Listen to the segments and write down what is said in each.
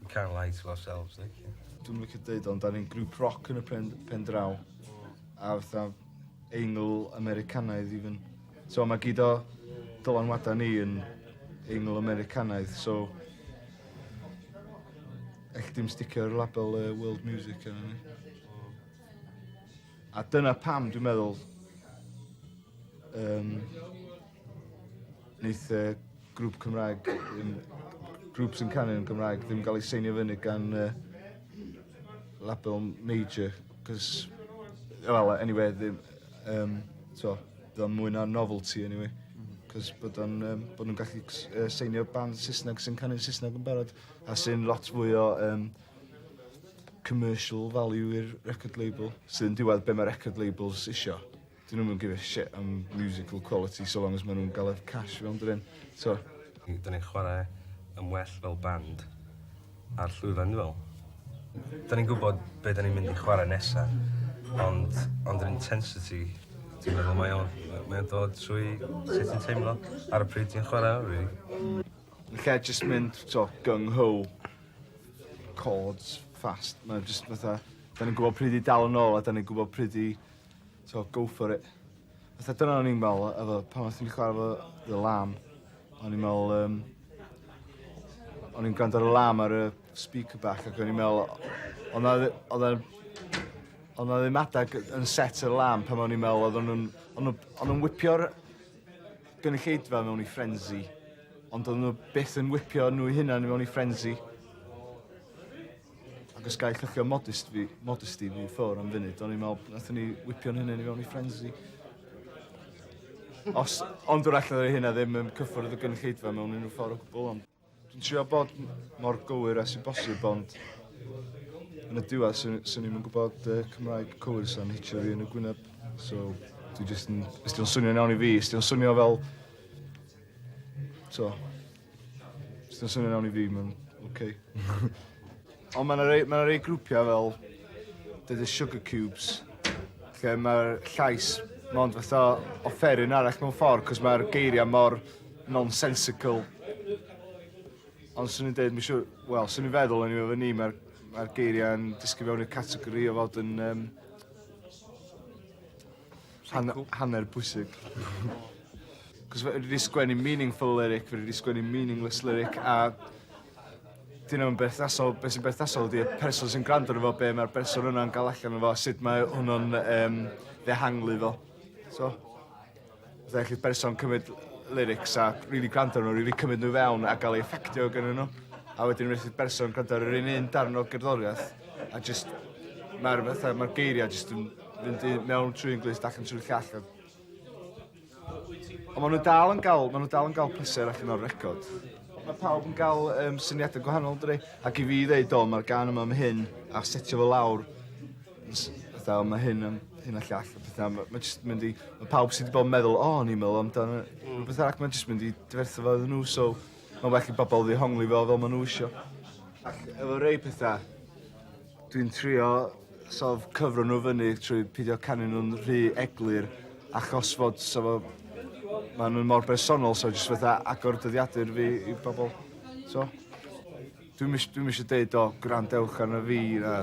We can't lie to ourselves, like. Dwi'm yn licio deud ond da ni'n grŵp roc yn y pen, pen draw. A fatha eingl Americanaidd even. So mae gyd o dylanwadau ni yn eingl Americanaidd, so eich dim sticio'r label uh, world music yna ni. A dyna pam dwi'n meddwl um, Neith yy grŵp Cymraeg ddim grŵp sy'n canu yn Gymraeg ddim ga'l ei seinio fyny gan yy label major 'c'os wel eniwe ddim yym t'wo' bydd o'n mwy na novelty eniwe. Hmm. 'C'os bod o'n yym bo' nw'n gallu cs- yy seinio band Sysneg sy'n canu'n Sysneg yn barod a sy'n lot fwy o yym commercial value i'r record label sy'n diwadd be' ma' record labels isio. 'Dyn nw'm yn give a shit am musical quality so long as ma' nw'n ga'l yr cash rownd yr 'en. T'o'? N- 'dan ni'n chware yn well fel band ar llwyfan dwi me'wl. 'Dan ni'n gwbod be' 'dan ni'n mynd i chware nesa ond ond yr intensity dwi'n meddwl mae o'n mae o'n dod trwy sut ti'n teimlo ar y pryd ti'n chware o rili. Hmm. Ella jyst mynd t'o' gung ho. Chords fast ma' jyst fatha 'dan ni'n gwbod pryd i dal yn ôl a 'dan ni'n gwbod pryd i So go for it. Fatha dyna o'n i'n me'wl efo pan o'n i'n chware efo The Lamb o'n i'n me'wl yym o'n i'n gwrando ar y Lamb ar y speaker bach ac o'n i'n me'wl o' 'na ddi- odd e'n o' 'na ddim adag yn set y Lamb pan o'n i'n me'wl oeddon nw'n o'n nw o'n nw'n wipio'r gynulleidfa mewn i frenzy ond do'dd nw byth yn wipio nw 'u hunan i mewn i frenzy. Ac os gael cychwyn modest fi, modesty fi ffwr am funud, o'n i'n meddwl, nathon ni whipio'n hynny ni fewn i frenzy. Os, ond wrach na hynna ddim yn cyffwrdd y gynulleidfa mewn unrhyw ffordd o gwbl, ond dwi'n trio bod mor gywir as i bosib, ond yn y diwedd, sy'n sy ni'n gwybod uh, Cymraeg cywir sy'n hitio fi yn y gwyneb. So, dwi jyst yn... Ysdi o'n swnio'n iawn i fi, ysdi o'n swnio fel... So, Swn swnio'n iawn i fi ma'n oce. Ond ma' 'na rei ma' 'na rei grwpia' fel The The Sugar Cubes lle ma'r llais mond fatha offeryn arall mewn ffor 'c'os ma'r geiria' mor nonsensical. Ond swn i'n deud ma' siŵr wel swn i'n feddwl eniwe efo ni ma'r ma'r geiria'n disgyn fewn i'r categori o fod yn yym Han- hanner bwysig. 'C'os fe- dwi 'di sgwennu meaningful lyric fe' dwi 'di sgwennu meaningless lyric a 'dyn nw'm berthnasol be' sy'n berthnasol ydi y person sy'n grando arno fo be' ma'r berson yna'n ga'l allan o fo a sut mae hwnnw'n yym ddehangli fo. So. Fatha ellith berson cymryd lyrics a rili grando arno rili cymryd nw i fewn a ga'l ei effeictio gynnyn nw a wedyn rywun sydd berson grando ar yr un un darn o gerddoriath a jyst ma'r fatha ma'r geiria' jyst yn fynd i mewn trwy un glust ac yn trwy'r llall. Ond maen nhw dal yn gael, maen nhw dal yn gael pleser allan o'r record. Mae pawb yn gael um, syniadau gwahanol, dwi. Ac i fi ddeud, do, mae'r gan yma am hyn, a setio fo lawr, fatha, mae hyn yn hyn a llall, a pethau. Mae ma jyst mynd i... Mae pawb sydd wedi bod yn meddwl, o, oh, ni'n meddwl amdano mm. rhywbeth arall, mae'n jyst mynd i dyferthu fo iddyn nhw, so mae'n well i bobl ddihongli fo fel maen nhw eisiau. Ac efo rei pethau, Dwi'n trio sort of cyfro nhw fyny trwy pidio canu nhw'n rhy eglur achos fod so fo ma' nhw'n mor bersonol so jyst fatha agor dyddiadur fi i bobol. So dwi'm ish- dwi'm isio deud o gwrandewch arno fi na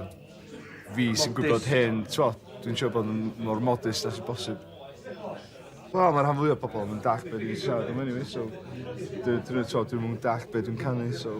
fi sy'n gwybod hyn t'mo' dwi'n trio bod yn mor modest â sy bosib. Wel ma' rhan fwya o pobol 'im yn dall' be' dwi siarad am eniwe so dw- dw- t'mo' dwi'm yn dall' be' dwi'n canu so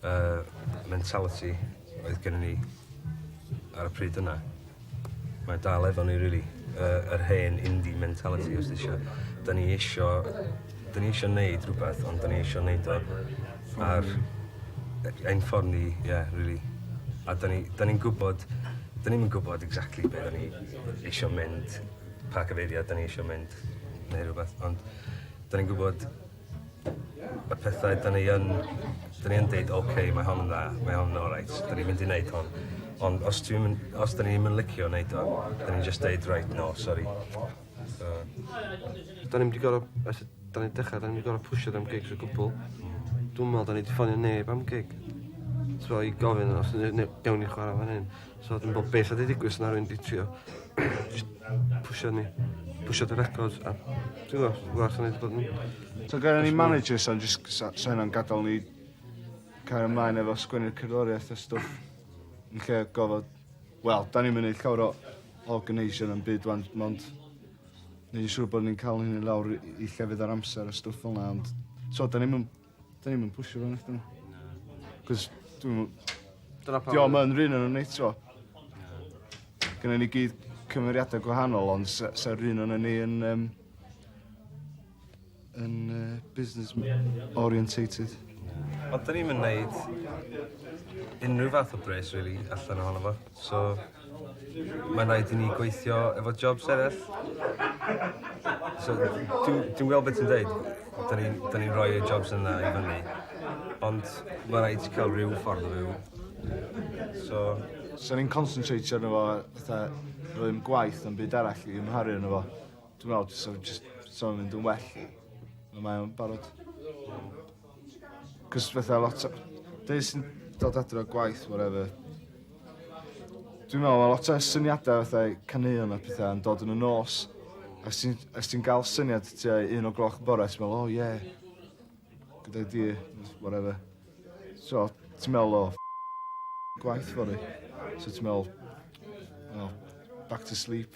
Y mentality oedd gennym ni ar y pryd yna, mae dal efo ni rili. Y, yr hen indie mentality os ti isio. Da ni isio, da ni isio neud rhywbeth, ond da ni isio neud o ar ein ffordd ni, ie, yeah, rili. A da ni'n ni, ni gwybod, da ni'n gwybod exactly be da ni isio mynd, pa cyfeiriad da ni isio mynd, neu rhywbeth, ond da ni'n gwybod y pethau 'dan ni yn 'dan ni yn deud ok mae hon yn dda mae hon yn oreit 'dan ni'n mynd i neud hon ond os dwi'm yn os 'dan ni'm yn licio neud o 'dan ni'n jyst deud reit no sori. So. 'Dan ni'm 'di gor'o' ers y 'dan ni dechra 'dan ni'm 'di gor'o' pwsio am gigs o gwbwl. Dw'm me'wl 'dan ni 'di ffonio neb am gig. T'mo' i gofyn os ne- ne- gewn ni chwara fan 'yn. So dwi'n bod beth oedd wedi digwydd os na rwy'n wedi trio pwysio ni, pwysio dy record. A dwi'n gwybod, gwybod, dwi'n wedi bod yn... So gael ni manager so jyst so hynna'n gadael ni cael ymlaen efo sgwennu'r cerddoriaeth a stwff. Yn lle gofod... Wel, da ni'n mynd llawer o organisation yn byd wan, ond ni'n siŵr bod ni'n cael hyn i lawr i llefydd ar amser a stwff fel yna, ond so da ni'n mynd Da ni'm yn pwsio fe nathon. Na. Cos dwi'm yn... Dyna pam... Diom yn run o'n eto. Gynna ni gyd cymeriadau gwahanol ond sa, sa run o'n ni yn um, yn uh, business orientated. Ond da ni'n mynd wneud unrhyw fath o bres, really, allan ohono fo. So, mae'n rhaid i ni gweithio efo jobs eraill. So, dwi'n gweld beth ti'n dweud, da ni'n ni, ni rhoi y jobs yna i fyny, ond mae'n rhaid i cael rhyw ffordd o fyw. So... So ni'n concentrate arno fo, fatha, rwy'n gwaith yn byd arall i ymharu arno fo. Dwi'n meddwl, so, just, so mynd yn well. Mae o'n barod. Cos fatha lot o... Dwi jyst yn dod adre o gwaith wharever. Dwi'n me'wl ma' lot o syniada fatha i caneuon a petha yn dod yn y nos a os ti'n os ti'n ga'l syniad tua un o gloch y bore ti me'wl o ie good idea js wharever. So ti'n me'wl o gwaith fory so ti me'wl o back to sleep.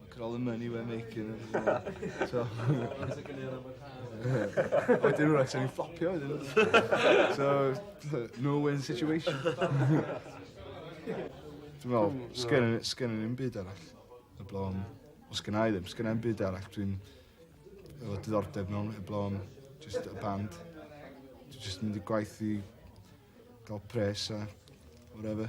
Look at all the money we're making. so. Wedyn nhw'n actually fflopio iddyn nhw. So, no-win situation. Dwi'n meddwl, sgyn yn un byd arall. Y blom, o sgyn i ddim, sgyn yn byd arall. Dwi'n efo diddordeb mewn y blom, just y band. Dwi'n just mynd i gwaith i gael pres a whatever.